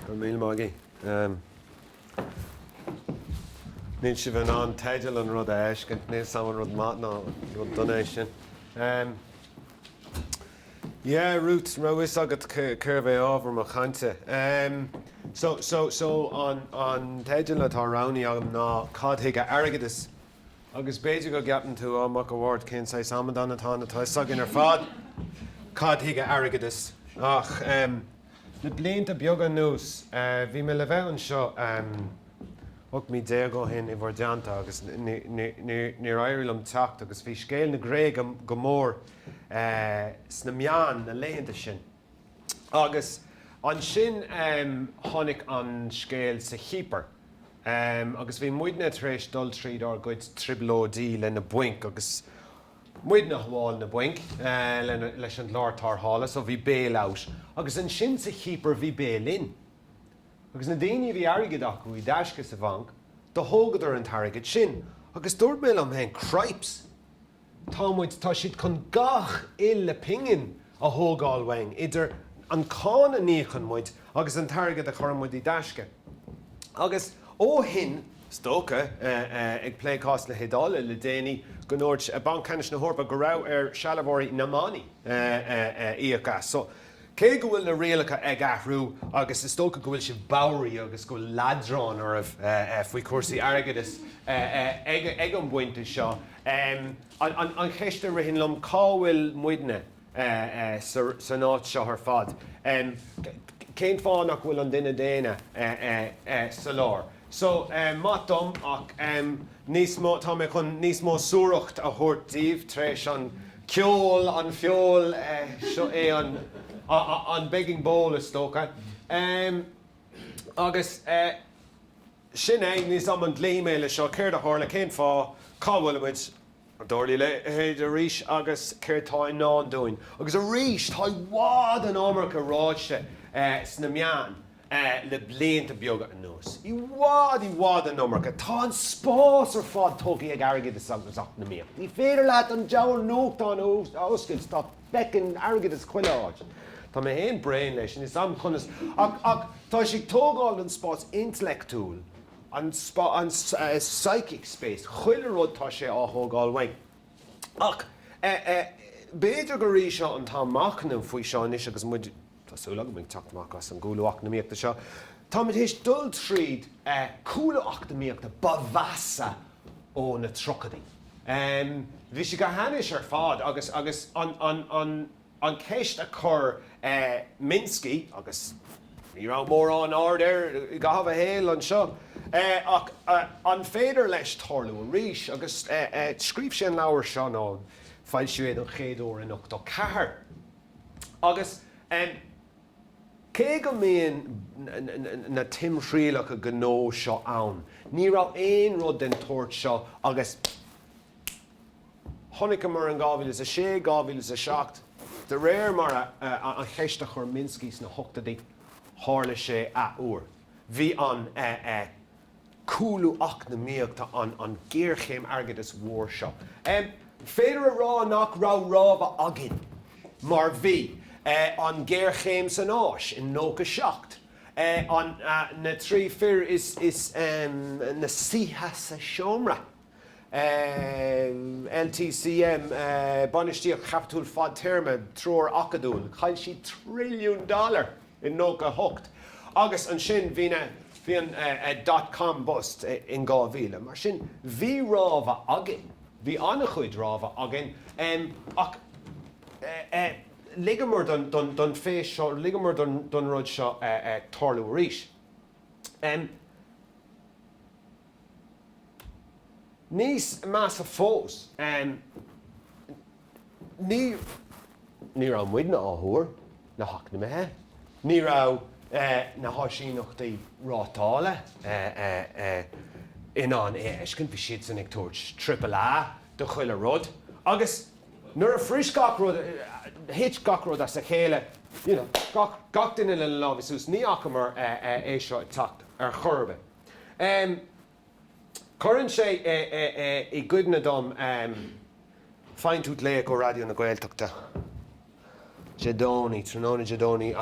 Go míle maith agaibh. Níl sibh in ann teideal an rud a fheiscint, níl a fhios agam an rud maith nó rud dona é sin. Yeah, Ruth, raibh fhios agat cérbh é ábhar mo chainte. So, so, so an teideal atá roghnaithe agam ná Cad Chuige Airgeadas Agus b'fhéidir go gceapann tú, Á, Mac a' Bhaird, cén saghas amadáin atá ann, tá a fhios againn ar fad cad chuige airgeadas. Ach le blianta beaga anuas bhí mé le bheith anseo 18 mí ó shin i bhur dteannta agus níor éirigh liom teacht agus bhí scéal na Gréige go mór sna meáin na laethanta sin. Agus ansin tháinig an scéal sa Chipir agus bhí muidne tar éis dul tríd ár gcuid trioblóidí le na bainc agus muidne ag sábháil na bainc leis an gclár tarrthála so bhí bail out. Agus ansin sa Chipir bhí bail in. Agus na daoine a bhí airgead acu i dtaisce sa bhanc, do thógadar an t-airgead sin. Agus dúirt mé liom féin, Cripes! Tá muid, tá siad chun gach uile pingin a thógáil uainn, idir an cáin a n-íocann muid agus an t-airgead a chuireann muid i dtaisce. Agus ó shin, is dócha, ag plé cás na hIodáile le déanaí, go ndúirt Banc Ceannais na hEorpa go raibh ar sealbhóirí na mbannaí íoc as. So, cé go bhfuil na rialacha ag athrú agus is dócha go bhfuil sibh bodhraithe agus go bhfuil leadrán oraibh faoi chúrsaí airgeadais ag an bpointe seo, Um an cheist a ritheann liom, cá bhfuil muidne san áit seo ar fad? Um cén fáth nach bhfuil an duine daonna sa lár? So maith dom ach um níos mó, tá mé chun níos mó suaracht a thabhairt daoibh tar éis an ceol, an feoil, seo é an begging bowl is dócha. Um. Agus eh, sin é, níl a fhios agam an gcloífidh mé leis seo, céard a tharla, cén fáth, cá bhfuil muid, an dtarlóidh a leithéid arís agus céard atá i ndán dúinn? Agus arís, tá i bhfad an iomarca ráite eh, sna meáin eh, le blianta beaga anuas. I bhfad, i bhfad an iomarca. Tá an spás ar fad tógtha ag airgeadas agus eacnamaíocht. Ní féidir leat an diabhal nuachtán a oscailt, tá. feiceann airgeadas chuile áit. Tá mé féin bréan leis, níl a fhios agam conas, ach, ach tá sé ag tógáil an spás intleachtúil, an spás, an psychic space, chuile rud tá sé á thógáil uainn. Ach, eh, eh, b'fhéidir gurb é seo an t-am machnamh faoi seo anois agus muid, Tá súil agam go bhfuilimid ag teacht amach as an gcúlú eacnamaíochta seo. Táimid théis dul tríd cúlú eacnamaíochta ba mheasa ó na tríochaidí. Bhí sé go hainnis ar fad agus agus an cheist a chuir Minsky, agus ní raibh mórán aird air i gcaitheamh a shaoil anseo, ach an féidir leis tarlú arís? Agus scríobh sé an leabhar seo, nó foilsíodh é don chéad uair in ochtó ceathair. Agus cé go mbíonn na timthriallacha gnó seo ann, ní raibh aon rud den tsórt seo agus a chonaiceamar in 2006, 2007, de réir mar a an cheist a chuir Minsky sna hochtóidí, tharla sé athuair. Bhí an. cúlú eacnamaíochta an an géarchéim airgeadais mhór seo. B'fhéidir a rá nach raibh rabhadh againn mar bhí an géarchéim san Áis in 97, an na trí fir is na saoithe sa seomra. LTCM, bainistíocht chaipitiúil fhadtéarma, treoir acadúil. Chaill siad trilliún dollar i 98 agus ansin bhí na, bhí an dot com bust in 2000. Mar sin bhí rabhadh againn, bhí an-chuid rabhadh againn ach ligeamar don phéist seo, ligeamar don rud seo tarlú arís. Níos measa fós, ní raibh muidne á thuar, na heacnamaithe. Ní raibh na háisíneachtaí rátála in ann é a fheiscint, bhí siadsan ag tabhairt triple A do chuile rud agus nuair a bhris gach rud, thit gach rud as a chéile, you know, gach duine lena lámha suas, ní fhacamar é seo ag teacht ar chor ar bith. Cuireann sé i gcuimhne dom Faigheann tú glaoch ó Raidió na Gaeltachta Dé Domhnaigh tráthnóna Dé Domhnaigh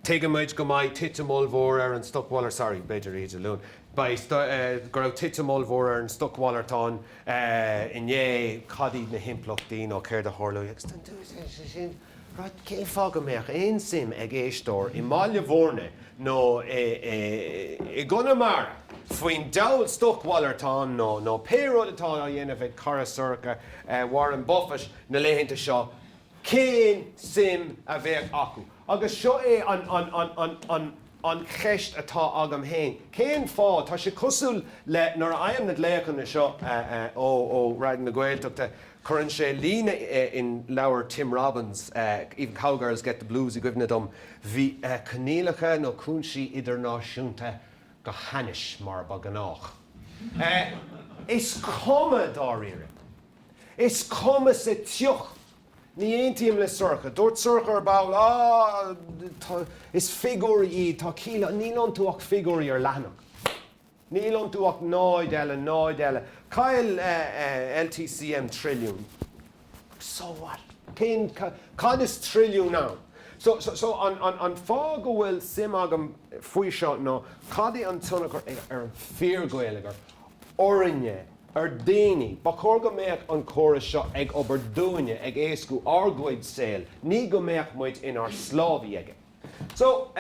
Tuigeann muid go mbeidh titim ollmhór ar an stocmhalar sorry b'fhéidir oíche Dé Luain beidh go raibh titim ollmhór ar an stocmhalartán inné cad iad na himpleachtaí nó céard a tharlóidh agus Rud, cé fáth go mbeadh aon suim ag éisteoir i mBaile Bhúirne nó i gConamara faoin diabhal stocmhalartán nó nó pé rud atá á dhéanamh ag cara Sorcha Warren Buffett na laethanta seo, cén suim a bheadh acu? Agus seo é an an an an an an cheist atá agam fhéin, cén fáth, tá sé cosúil le nuair a fhaighim na glaochanna seo ó ó Raidió na Gaeltachta, Cuireann sé líne in leabhar Tim Robbins, Even Cowgirls Get the Blues i gcuimhne dom, bhí coinníollacha nó cúinsí idirnáisiúnta go hainnis mar ba ghnách. Is cuma dáiríre. Is cuma sa tsioc. Ní aontaím le Sorcha. Dúirt Sorcha ar ball, Á, tá, is figiúirí iad, tá ciall, níl iontu ach figiúirí ar leathanach. Níl iontu ach 0 eile, 0 eile. Chaill LTCM trilliún. So what? Cén, cad is trilliún ann? So, so, an fáth go bhfuil suim agam faoi seo ná cad é an tionchar ar an fíorgheilleagar, orainne, ar daoine. Ba chóir go mbeadh an córas seo ag obair dúinne, ag éascú ár gcuid saol, ní go mbeadh muid inár sclábhaí aige. So,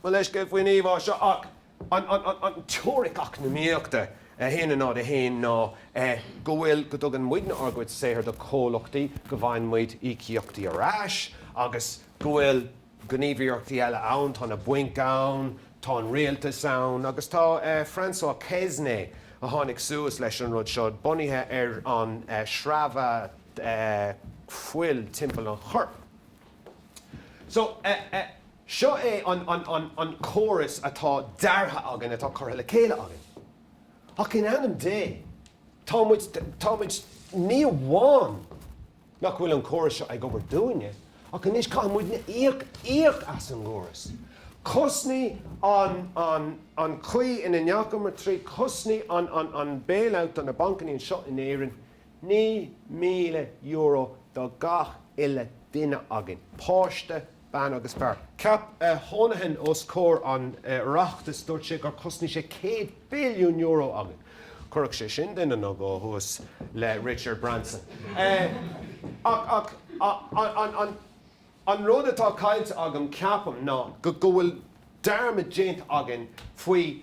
mo leithscéal faoin íomhá seo ach. An teoiric eacnamaíochta a haon a náid a haon ná go bhfuil, go dtugann muidne ár gcuid saothair do chomhlachtaí, go bhfaigheann muid íocaíochtaí ar ais agus go bhfuil gníomhaíochtaí eile ann, tá na bainc ann, tá an rialtas ann agus tá Francois Quesnay, a tháinig suas leis an rud seo, bunaithe ar an sreabhadh fuil timpeall an choirp. So, seo é an córas atá deartha againn, atá curtha le chéile againn. Ach in ainm Dé, tá muid, tá muid, ní amháin nach bhfuil an córas seo ag obair dúinne, ach anois caithfidh muidne íoc, íoc as an gcóras. Chosnaigh an, an, an chaoi ina ndeachamar trí, chosnaigh an, an, an bailout do na bancannaí anseo in Éirinn, €9,000 do gach uile duine againn, páiste, bean agus fear. Cheap Honohan os comhair an Oireachtais, dúirt sé gur chosnaigh sé €100 billiún againn. Chuirfeadh sé sin duine nó dhó thuas le Richard Branson. Ach an rud atá caillte agam, ceapaim, ná go bhfuil dearmad déanta againn faoi.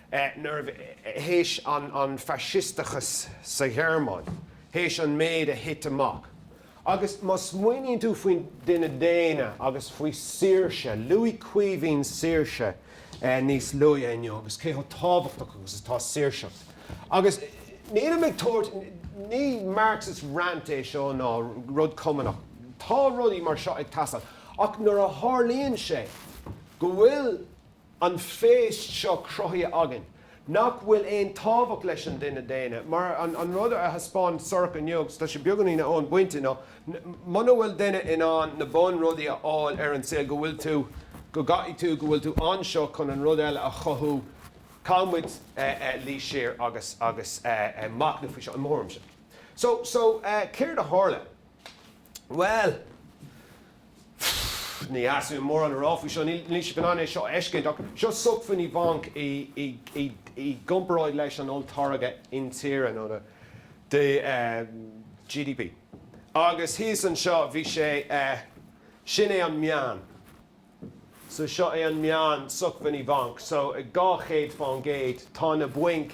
nuair théis an faisisteachas sa Ghearmáin, théis an méid a thit amach. Agus má smaoiníonn tú faoin duine daonna agus faoi saoirse, luaigh Caoimhín saoirse níos luaithe inniu agus cé chomh tábhachtach agus atá saoirseacht. Agus nílim ag tabhairt, ní Marxist rant é seo ná rud cumannach, tá rudaí mar seo ag teastáil ach nuair a tharlaíonn sé go bhfuil, an phéist seo cruthaithe againn, nach bhfuil aon tábhacht leis an duine daonna, mar an rud a thaispeáin Sorcha inniu, agus tá sé beagáinín an bonn bainte inniu, muna bhfuil duine in ann na bun rudaí a fháil ar an saol go bhfuil tú, go gcaithfidh tú, go bhfuil tú anseo chun an rud eile a chothú. Caithfidh muid luí siar agus machnamh faoi seo, i mo thuairimse. So, so, céard a tharla? Bhuel. Pfff, ní féidir mórán a rá faoi seo, níl sé go hanéasca é seo a fheiscint, ach seo sócmhainní bainc i gcomparáid leis an olltáirge intíre, nó the GDP. Agus thíos anseo bhí sé, sin é an meán. So seo é an meán sócmhainní bainc. So ag 200%, tá na bainc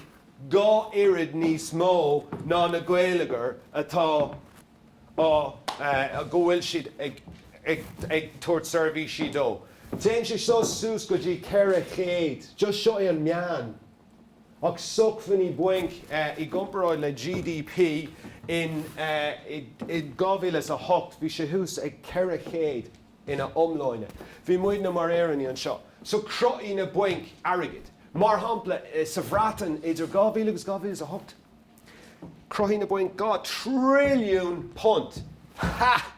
dhá oiread níos mó ná na geilleagair atá go bhfuil siad ag tabhairt seirbhísí dóibh. Téann sé seo suas go dtí 400, just seo é an meán, ach sócmhainní bainc i gcomparáid le GDP in 2008 bhí sé thuas ag 400 ina iomláine. Bhí muidne mar Éireannaigh anseo, so chruthaigh na bainc airgead. Mar shampla, sa Bhreatain idir 2000 agus 2008, Chruthaigh na bainc dhá trilliún punt. Ha!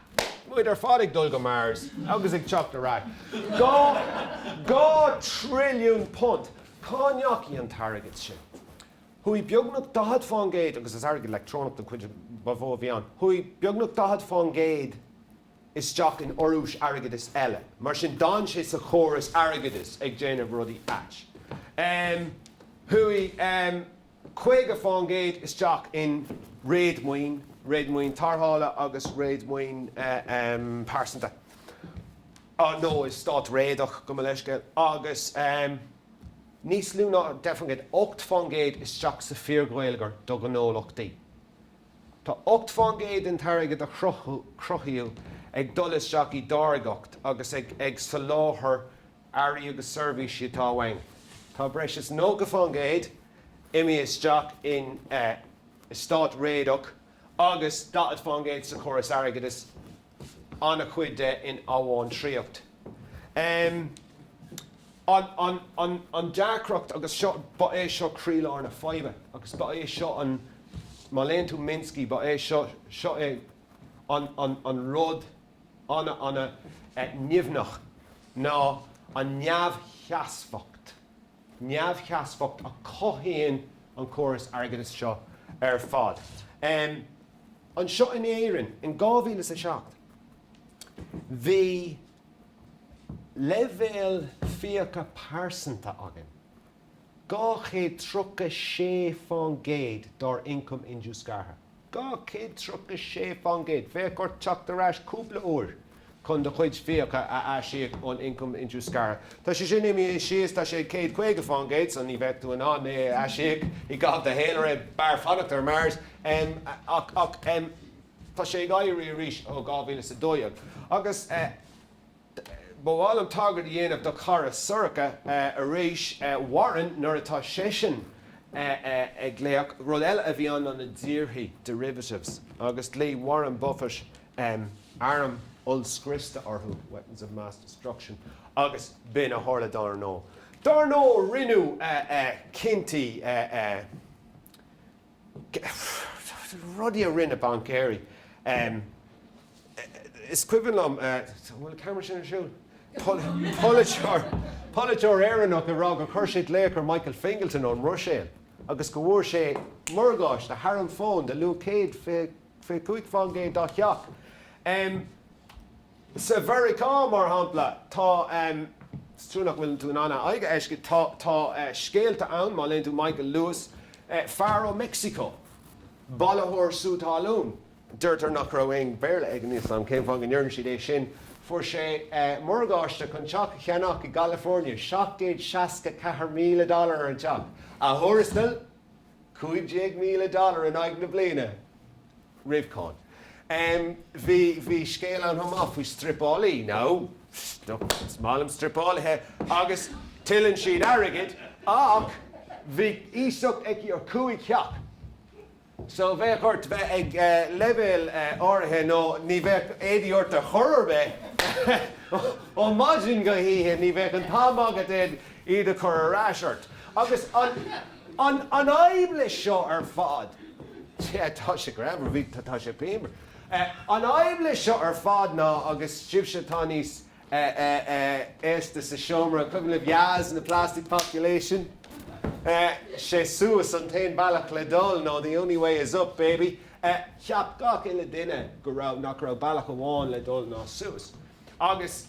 Muid ar fad ag dul go Mars agus ag teacht ar ais. Dhá, dhá trilliún punt! Cá ndeachaigh an t-airgead sin? Chuaigh beagnach 40% agus is airgead leictreonach den chuid ba mhó a bhí ann, chuaigh beagnach 40% isteach in urrúis airgeadais eile. Mar sin d'fhan sé sa chóras airgeadais ag déanamh rudaí aite. Em, chuaigh, em, 50% isteach in réadmhaoin, réadmhaoin tráchtála agus réadmhaoin phearsanta, nó eastát réadach gabh mo leithscéal, agus níos lú ná 10%, 8%, isteach sa fhíorgheilleagar do ghnólachtaí. Tá 8% den airgead a cruthaíodh ag dul isteach i dtáirgeacht agus ag soláthar earraí agus seirbhísí atá uainn. Tá breis is 90% imithe isteach in eastát réadach agus 40% sa chóras airgeadais, an-chuid de in amhantraíocht. An deacracht, agus seo, ba é seo croílár na faidhbe agus ba é seo an, má léann tú Minsky, ba é seo, seo é an rud, an-an-nimhneach ná an neamhsheasmhacht, neamhsheasmhacht a chothaíonn an córas airgeadais seo ar fad. Anseo in Éirinn in 2007, bhí leibhéal fiacha pearsanta againn. Dhá chéad tríocha sé fán gcéad dár ioncam indiúscartha. Dhá chéad tríocha sé fán gcéad. Bheadh ort teacht ar ais cúpla uair chun do chuid fiacha a aisíoc ón ioncam indiúscartha. Tá sé sin imithe síos, tá sé ag céad caoga fán gcéad so ní bheadh tú in ann é a aisíoc i gcaitheamh do shaolré, b'fhearr fanacht ar Mars. Ach tá sé ag éirí arís ó dhá mhíle is a dó dhéag. Agus. Ba mhaith liom tagairt a dhéanamh do chara Sorcha arís, Warren, nuair atá seisean ag glaoch. Rud eile a bhí ann ná na díorthaigh, derivatives, agus ghlaoigh Warren Buffett airm ollscriosta orthu, weapons of mass destruction, agus b'in a tharla dar ndóigh. Dar ndóigh rinneadh cinntí. rudaí a rinne baincéirí. Is cuimhin liom, an bhfuil an ceamara sin ar siúl? polaiteoir, polaiteoir Éireannach ag rá gur chuir sé glaoch ar Michael Fingleton ón mBruiséil agus go bhfuair sé morgáiste thar an bhfón de luach 125% dá theach. Sa Mheiriceá, mar shampla, tá, is trua nach bhfuil tú in ann a aghaidh a fheiscint, tá, tá scéalta ann, má léann tú Michael Lewis, fear ó Mhexico, bailitheoir sú talún, deirtear nach raibh aon Bhéarla aige, níl a fhios agam cén fáth go ndeireann siad é sin, fuair sé morgáiste chun teach a cheannach i gCalifornia, seacht gcéad seasca ceathair míle dollar ar an teach, a thuarastal, cúig déag míle dollar in aghaidh na bliana. roimh cáin. Bhí, bhí scéal ann chomh maith faoi struipeálaí, nó is maith liom struipeálaithe, agus tuilleann siad airgead ach bhí iasacht aici ar chúig theach so bheadh ort bheith ag leibhéal áirithe nó ní bheadh éadaí ort ar chor ar bith ó mhaidin go hoíche, ní bheadh an t-am agat iad a chur ar ais ort. Agus an. An fhadhb leis seo ar fad, tá sé greannmhar, bhí, tá sé pianmhar, an fhadhb leis seo ar fad ná, agus sibhse atá níos aosta sa seomra, an cuimhin libh Yazz and the Plastic Population? sé suas, an t-aon bealach le dul, nó the only way is up, baby. Cheap gach uile duine go raibh, nach raibh bealach amháin le dul ná suas. Agus.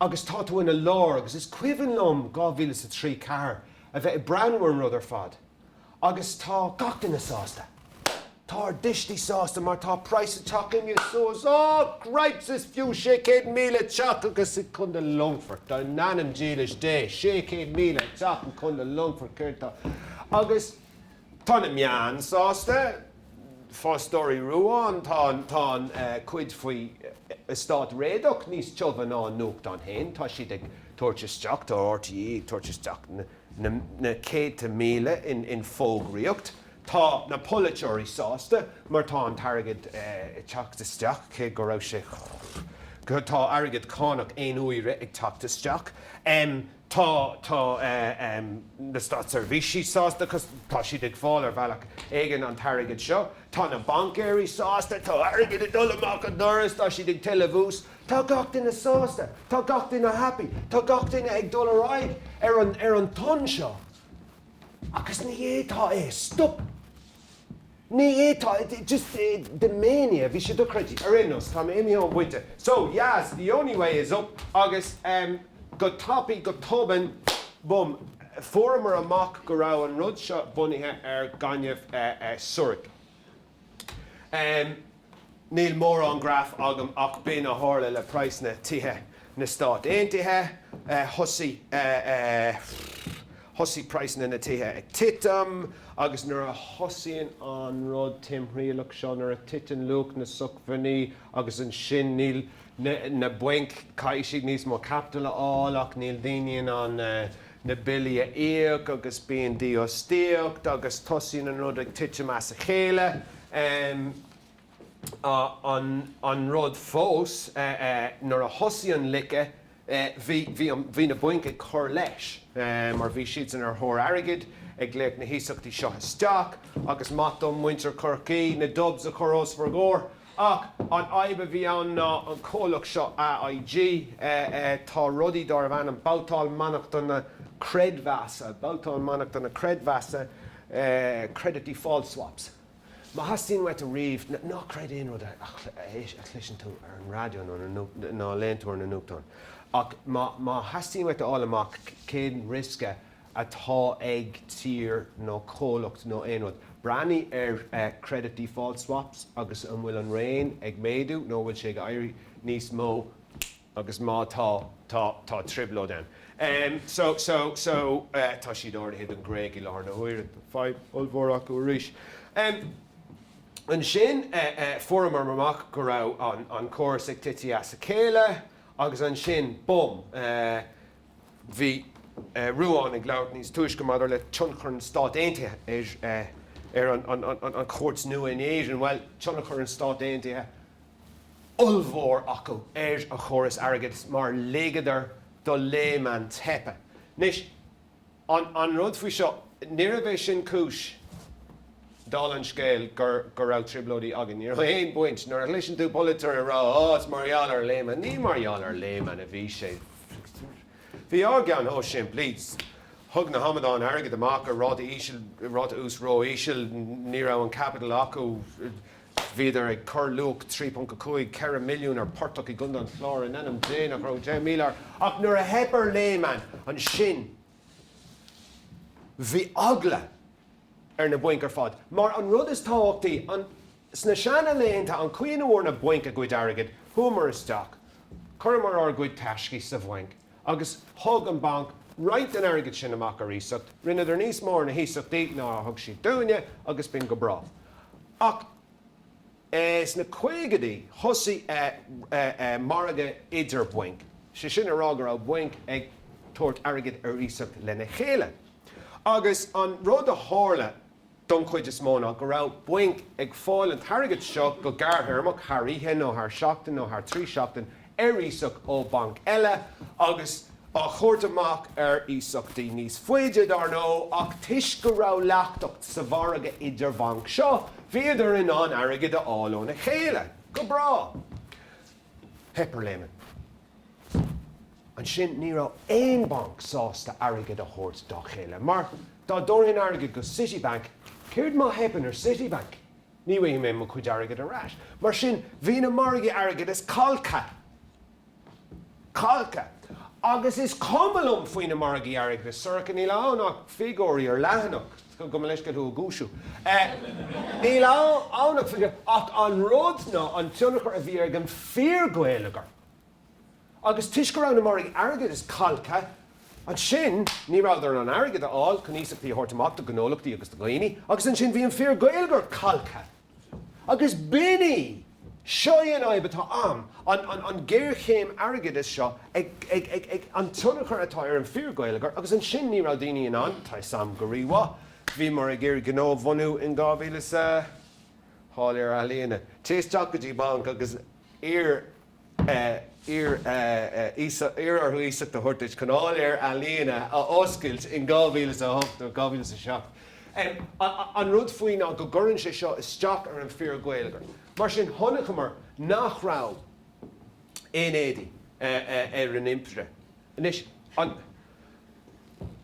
agus tá tú ina lár agus is cuimhin liom dhá mhíle is a trí, ceathair a bheith ag breathnú ar an rud ar fad agus tá gach duine sásta. Tá ár dtuistí sásta mar tá praghas an teach imithe suas. Ó! Cripes! Is fiú sé chéad míle teach i gContae Longfort, in ainm dílis Dé, sé chéad míle teach i gContae Longfort, céard tá, agus. Tá na meáin sásta. Fostóirí Rúáin, tá an cuid faoi eastát réadach níos tiubha ná an nuachtán féin. Tá siad ag tabhairt isteach, tá RTÉ ag tabhairt isteach na céadta míle in fógraíocht. Tá na polaiteoirí sásta mar tá an t-airgead ag teacht isteach, cé go raibh sé, tá airgead cánach aon uaire ag teacht isteach. Tá tá na státseirbhísí sásta cos tá siad ag fáil ar bhealach éigin an t-airgead seo. Tá na baincéirí sásta tá airgead ag dul amach an doras tá siad ag tuilleamh ús. Tá gach duine sásta. Tá gach duine happy. Tá gach duine ag dul ar aghaidh ar an ar an tonn seo. Agus ní é tá é stop. Ní hé, tá, just the mania, bhí sé dochreidte, ar aon nós, tá mé imithe ón bpointe. So, yeah, the only way is up agus em go tapaidh, go tobann, bum, fuaireamar amach go raibh an rud seo bunaithe ar gaineamh eh, eh, súraic. Em. Níl mórán graf agam ach b'in a tharla le praghsanna tithe na Stáit Aontaithe. Thosaigh praghsanna na tithe ag titim agus nuair a thosaíonn an rud timthriallach seo, nuair a titeann luach na socmhainní agus ansin níl na bainc caithfidh níos mó caiptil a fháil ach níl daoine in ann na billí a íoc agus bíonn dífhostaíocht agus tosaíonn an rud ag titim as a chéile. An rud fós nuair a thosaigh an loiceadh Eh, bhí, bhí an, bhí na bainc ag cur leis, eh, mar bhí siadsan ar thóir airgid, ag glaoch na hiasachtaí seo isteach agus maith dom muintir Chorcaí na Dubs a chur os bhur gcomhair ach an fhadhb a bhí ann ná an comhlacht seo AIG, eh, eh, tá rudaí darbh ainm Babhtáil Mainneachtana Creidmheasa, Babhtáil Mainneachtana Creidmheasa, eh, Credit Default Swaps. Má theastaíonn uait riamh, ná creid aon rud a chloiseann tú ar an raidió nó léann tú ar na nuachtáin, ach má theastaíonn uait a fháil amach cén riosca atá ag tír nó comhlacht nó aon rud, breathnaigh ar credit default swaps agus an bhfuil an raon ag méadú nó an bhfuil sé ag éirí níos mó. agus má tá, tá, tá trioblóid ann. Em, so, so, so, eh, tá siad ardaithe don Ghréig i láthair na huaire, fadhb ollmhór acu arís. Em, ansin, eh, eh, fuaireamar amach go raibh an, an córas ag titim as a chéile agus ansin, bum, eh, bhí, eh, Ruán ag labhairt níos túisce maidir le tionchar an Stáit Aontaithe ar, eh, ar an, an, an, an, an chuaird nua in Éirinn. Bhuel, tionchar an Stáit Aontaithe, ollmhór acu ar an chóras airgid mar ligeadar do Lehman teip. Anois, an an rud faoi seo, níorbh é sin cúis, dála an scéil, go raibh trioblóidí againn. Ní raibh aon bhaint. Nuair a chloiseann tú polaiteoir ag rá, Ó, is mar gheall ar Lehman, ní mar gheall ar Lehman a bhí sé. Bhí ár gceann chomh simplí. Thug na hamadáin airgead amach ar ráta íseal, ráta úis ró-íseal, ní raibh an capital acu. Bhíodar ag cur luach €3.5, 4 milliún ar phortach i gContae an Chláir in ainm Dé nach raibh tríocha míle air ach nuair a theip ar Lehman ansin bhí eagla ar na bainc ar fad mar an rud is tábhachtaí sna seana laethanta an chaoi ina bhfuair na bainc a gcuid airgid, chuamar isteach, chuireamar ár gcuid taiscí sa bhanc agus thug an banc roinnt den airgead sin amach ar iasacht, rinneadar níos mó ar na hiasachtaí ná a thug siad dúinne agus bhí an-go breá. Ach eh sna caogaidí thosaigh eh eh eh margadh idir bhainc, sé sin a rá go raibh bainc ag tabhairt airgid ar iasacht lena chéile agus an rud a tharla, don chuid is mó ná go raibh bainc ag fáil an t-airgead seo go gearrthéarmach, thar oíche nó thar seachtain nó thar trí sheachtain, ar iasacht ó bhanc eile agus á thabhairt amach ar iasachtaí níos faide, dar ndóigh, ach toisc go raibh leachtacht sa mhargadh idir-bhanc seo, bhíodar in ann airgead a fháil óna chéile. Go breá. Theip ar Lehman. Ansin ní raibh aon bhanc sásta airgead a thabhairt dá chéile, mar dá dtabharfainn airgead go Citibank, céard má theipeann ar Citibank? Ní bhfaighidh mé mo chuid airgid ar ais. Mar sin bhí na margaí airgeadais calctha. Calctha. Agus is cuma liom faoi na margaí airgeadais, Sorcha, níl ann ach figiúirí ar leathanach. go mo leithscéal, figiúirí. Níl ann ach, ach an rud ná an tionchar a bhí ar an bhfíorgheilleagar. Agus toisc go raibh na margaí airgeadais calctha, ansin ní rabhadar in ann airgead a fháil chun iasachtaí a thabhairt amach do ghnólachtaí agus do dhaoine, agus ansin bhí an fíorgheilleagar calctha. Agus b'in, seo í an fhadhb atá ann, an géarchéim airgeadais seo, an tionchar atá ar an bhfíorgheilleagar agus ansin ní raibh daoine in ann, tá 'fhios a'm go rímhaith, bhíomar ag iarraidh gnó a bhunú in dhá mhíle is a hocht, dánlann ealaíona, téigh isteach go dtí banc agus iarr Iarr orthu iasacht a thabhairt duit chun áiléar ealaíne a oscailt in 2008 nó 2007. An rud faoi ná nach gcuireann sé seo isteach ar an fíorgheilleagar. Mar sin chonaiceamar nach raibh aon éadaí ar an impire. Anois an.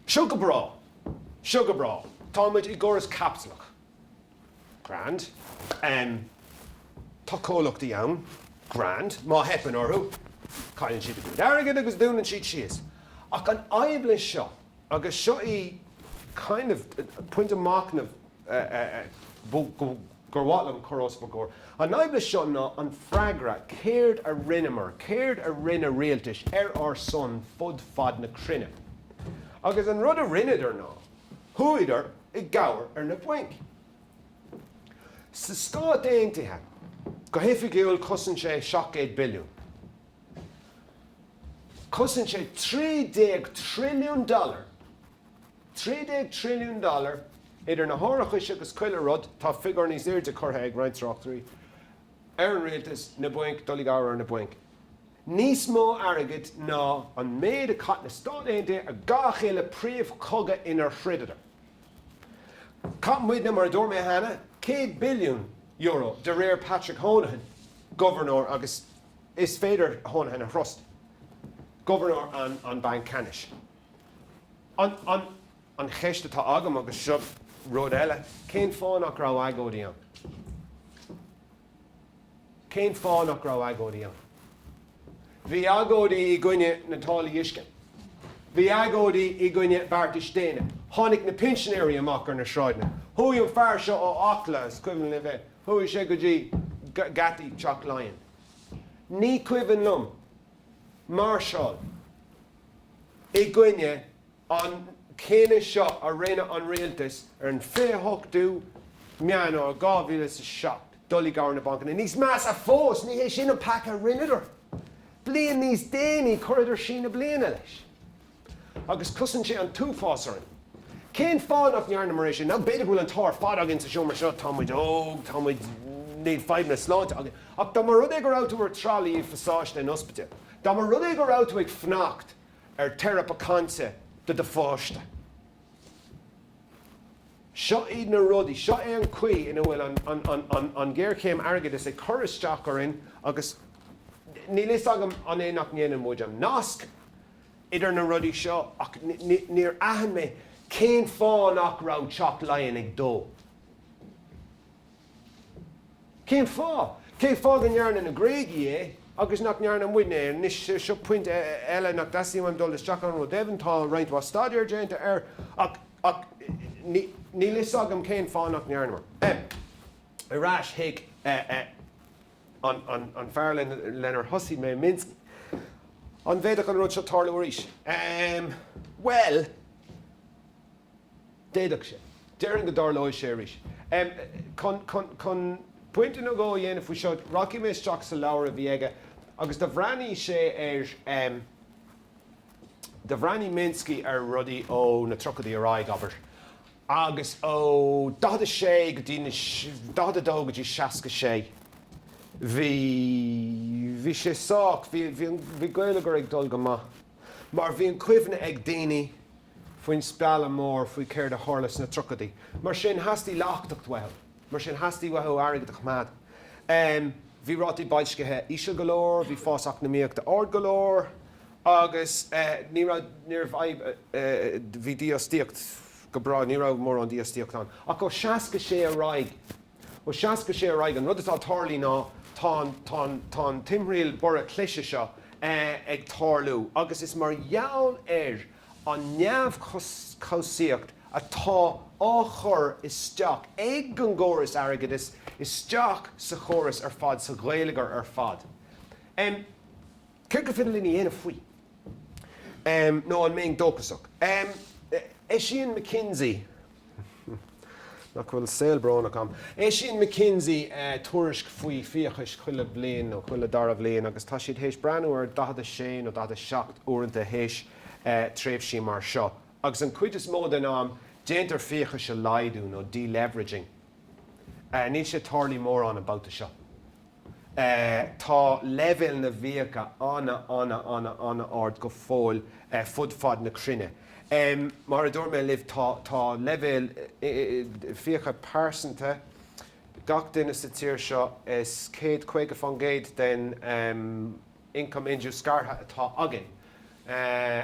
Seo go bráth. Seo go bráth. Táimid i gcóras caipitleach. Grand. Tá comhlachtaí ann, grand, má theipeann orthu, cailleann siad a gcuid airgid agus dúnann siad síos. Ach an fhadhb leis seo, agus seo í kind of pointe machnaimh gur mhaith liom a chur os bhur gcomhair, an fhadhb leis seo ná an freagra, céard a rinneamar, céard a rinne rialtais ar ár son fud fad na cruinne. Agus an rud a rinneadar ná. Chuadar i gcabhair ar na bainc. Sna Stáit Aontaithe, go hoifigiúil chosain sé 700 billiún. Chosain sé 13 trilliún dollar. 13 trilliún dollar idir na hárachais agus chuile rud, tá figiúr níos airde curtha ag roinnt tráchtairí ar an rialtas, na bainc, dul i gcabhair ar na bainc. Níos mó airgid ná an méid a chaith na Stáit Aontaithe ar gach uile príomhchogadh inar throideadar. Chaith muide, mar a dúirt mé cheana, €100 billiún, de réir Patrick Honohan, gobharnóir, agus is féidir Honohan a thrust, gobharnóir an Bhanc Ceannais. An cheist atá agam, agus seo rud eile, cén fáth nach raibh agóidí ann? Cén fáth nach raibh agóidí ann? Bhí agóidí i gcoinne na dtáillí uisce. Bhí agóidí i gcoinne beartais déine. Tháinig na pinsinéirí amach ar na sráideanna. Chuaigh an fear seo ó Acla, is cuimhin libh é, chuaigh sé go dtí geataí Teach Laighean. Ní cuimhin liom máirseáil i gcoinne. an cinneadh seo a rinne an Rialtas, ar an 28ú Meán Fómhair 2007, dul i gcabhair ar na bainc. Níos measa fós, ní hé sin an peaca a rinneadar. Bliain níos déanaí chuireadar síneadh bliana leis. Agus chosain sé an t-uafás orainn. Cén fáth nach ndearnamar é sin? Nó b'fhéidir go bhfuil an t-ádh ar fad againn sa seomra seo, tá muid óg, tá muid, níl fadhbanna sláinte againn. Ach dá mba rud é go raibh tú ar tralaí i bpasáiste an ospidéil, dá mba rud é go raibh tú ag fanacht, ar theiripe cainte do do pháiste. Seo iad na rudaí, seo é an chaoi ina bhfuil an ghéarchéim airgeadais ag cur isteach orainn agus níl a fhios agam an é nach ndéanann muid an nasc idir na rudaí seo ach níor aithin mé cén fáth nach raibh Teach Laighean ag dó Cén fáth? Cén fáth go ndearna na Gréagaigh é agus nach ndearna muidne é? Anois, seo pointe eile nach dteastaíonn uaim dul isteach ann, go deimhin tá roinnt mhaith staidéir déanta air ach níl fhios agam cén fáth nach ndearnamar. Ar ais chuig an fear lenar thosaigh mé, Minsky. An bhféadfadh an rud seo tarlú arís? Bhuel. D'fhéadfadh sé. Déarfainn go dtarlóidh sé arís. Chun pointe nó dhó a dhéanamh faoi seo, rachaidh mé isteach sa leabhar a bhí aige agus do bhreathnaigh sé ar, do bhreathnaigh Minsky ar rudaí ó na tríochaidí ar aghaidh, abair, agus ó 42 go dtí na, 42 go dtí 66, bhí, bhí sé sách, bhí, bhí an, bhí geilleagar ag dul go maith. mar bhí an chuimhne ag daoine faoin spealadh mór faoi céard a tharla sna tríochaidí. Mar sin theastaigh leachtacht uathu. Mar sin theastaigh uathu airgead a choimeád. Bhí rátaí boilscithe íseal go leor, bhí fás eacnamaíochta ard go leor agus ní raibh, níorbh fhadhb, bhí dífhostaíocht go breá, ní raibh mórán dífhostaíocht ann. Ach ó 66 ar aghaidh Ó seasca sé ar aghaidh, an rud atá ag tarlú ná tá an, tá an, tá an timthriall borradh cliseadh seo ag tarlú agus is mar gheall ar an neamhchobhsaíocht atá á chur isteach ag an gcóras airgeadais isteach sa chóras ar fad, sa gheilleagar ar fad. Céard gur féidir linn a dhéanamh faoi? Nó an mbeinn dóchasach? Eisíonn McKinsey. Nach bhfuil saol brónach ann. Eisíonn McKinsey tuairisc faoi fiachais chuile bhliain nó chuile dara bhliain agus tá siad théis breathnú ar 46 nó 47 uaireanta théis tréimhsí mar seo agus an cuid is mó den am déantar fiachais a laghdú nó deleveraging. Níl sé tarlaí mórán an babhta seo. Tá leibhéal na bhfiacha ana ana ana ana ard go fóill fud fad na cruinne. Mar a dúirt mé libh tá tá leibhéal fiacha pearsanta gach duine sa tír seo is céad caoga fán gcéad den ioncam indiúscartha atá againn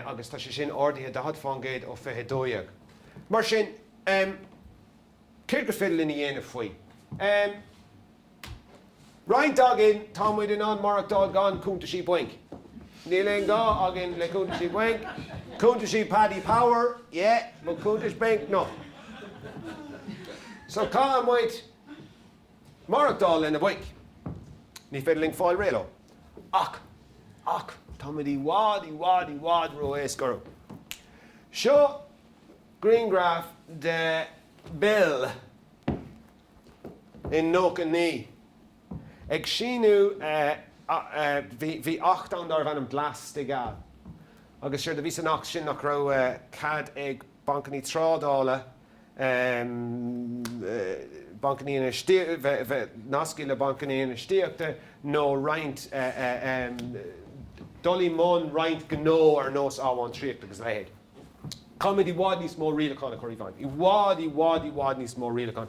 agus tá sé sin ardaithe daichead fán gcéad ó fiche dó dhéag. Mar sin. Céard gur féidir linn a dhéanamh faoi? Em. Roinnt againn, tá muid in ann maireachtáil gan cúntaisí bainc. Níl aon ghá againn le cúntaisí bainc. Cúntaisí Paddy Power, yeah, but cúntais bainc, no. So caithfidh muid maireachtáil le na bainc. Ní féidir linn fáil réidh leo. Ach, ach, tá muid i bhfad, i bhfad, i bhfad ró-éasca orthu. Seo. Grianghraf de Bill in nócha naoi ag síniú bhí acht ann darbh ainm Glass Steagal agus séard a bhí san acht sin nach raibh cead ag bancannaí trádála bancannaí bheith nascaithe le bancannaí infheistíochta nó roinnt dul i mbun roinnt gnó ar nós amhantraíocht agus a leithéid. Caithfimid i bhfad níos mó rialachán a chur i bhfeidhm. I bhfad, i bhfad, i bhfad níos mó rialachán.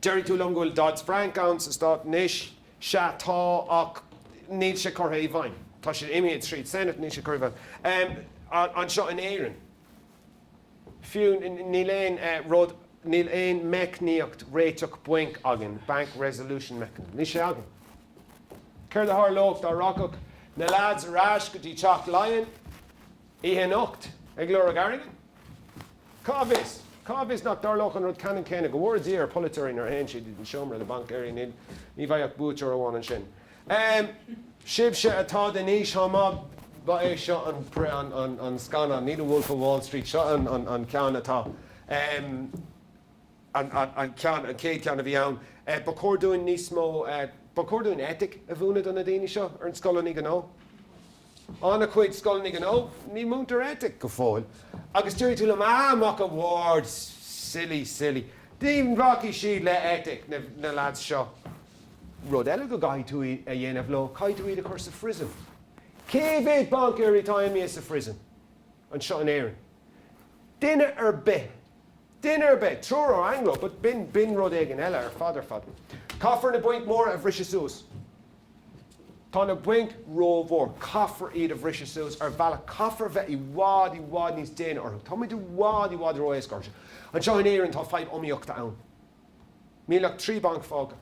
Déarfaidh tú liom go bhfuil Dodd-Frank ann sna Stáit anois. Sea, tá, ach níl sé curtha i bhfeidhm. Tá sé imithe tríd Senate, níl sé curtha i bhfeidhm anseo in Éirinn. Fiú níl aon rud, níl aon meicníocht réitigh bainc againn, bank resolution mechanism, níl sé againn. Céard a tharlódh dá rachadh na leaids ar ais go dtí Teach Laighean Oíche anocht ag lorg airgid? Cá bhfios? Cá bhfios nach dtarlódh an rud ceannann céanna, go bhfóire Dia ar pholaiteoirí nuair a théann siad i seomra le baincéirí níl, ní bheidh ach buaiteoir amháin ansin. Ehm, sibhse atá den aois áirithe, ba é seo an scannán, ní The Wolf of Wall Street, seo an ceann atá. Ehm. an ceann, an chéad cheann a bhí ann. Ba chóir dúinn níos mó, ba chóir dúinn eitic a mhúineadh do na daoine seo ar na scoileanna gnó. An-chuid scoileanna gnó, ní múintear eitic go fóill. Agus déarfaidh tú liom, Ah, Mac an Bhaird, silly, silly. Ní bhacfaidh siad le eitic, na leaids seo. Rud eile go gcaithfidh tú a dhéanamh leo, caithfidh tú iad a chur sa phriosún. Cé mhéad baincéirí atá imithe sa phriosún? anseo in Éirinn. Duine ar bith. Duine ar bith. Triúr ó Anglo but b'in, b'in rud éigin eile ar fad ar fad. Caithfear na bainc mhóra a bhriseadh suas. Tá na bainc rómhór. Caithfear iad a bhriseadh suas ar bhealach. Caithfear a bheith i bhfad, i bhfad níos déine orthu. Tá muid i bhfad, i bhfad ró-éasca orthu. Anseo in Éirinn tá fadhb iomaíochta ann. Níl ach trí bhanc fágtha.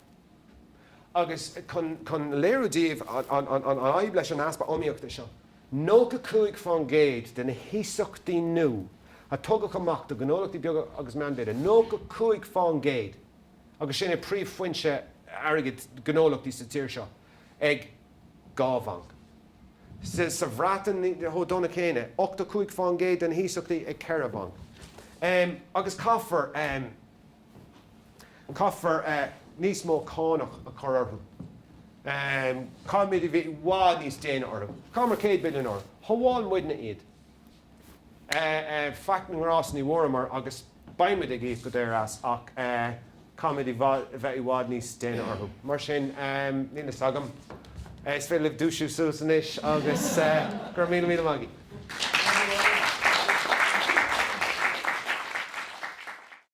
Agus chun, chun léiriú daoibh an, an, an, an fhadhb leis an easpa iomaíochta seo, 95% de na hiasachtaí nua a tugadh amach do ghnólachtaí beaga agus meánmhéide, 95% agus sin é príomhfhoinse airgid gnólachtaí sa tír seo, ag dhá bhanc. Sa Bhreatain chomh dona céanna, 85% de na hiasachtaí ag ceithre bhanc. Agus caithfear. Caithfear níos mó cánach a chur orthu. Caithfimid a bheith i bhfad níos déine orthu. Chaitheamar céad billiún orthu. Shábháil muidne iad. Faic na ngrás ní bhfuaireamar agus beimid ag íoc go daor as ach caithfimid a bheith i bhfad níos déine orthu. Mar sin, níl fhios agam. Is féidir libh dúisiú suas anois agus go raibh míle míle maith agaibh.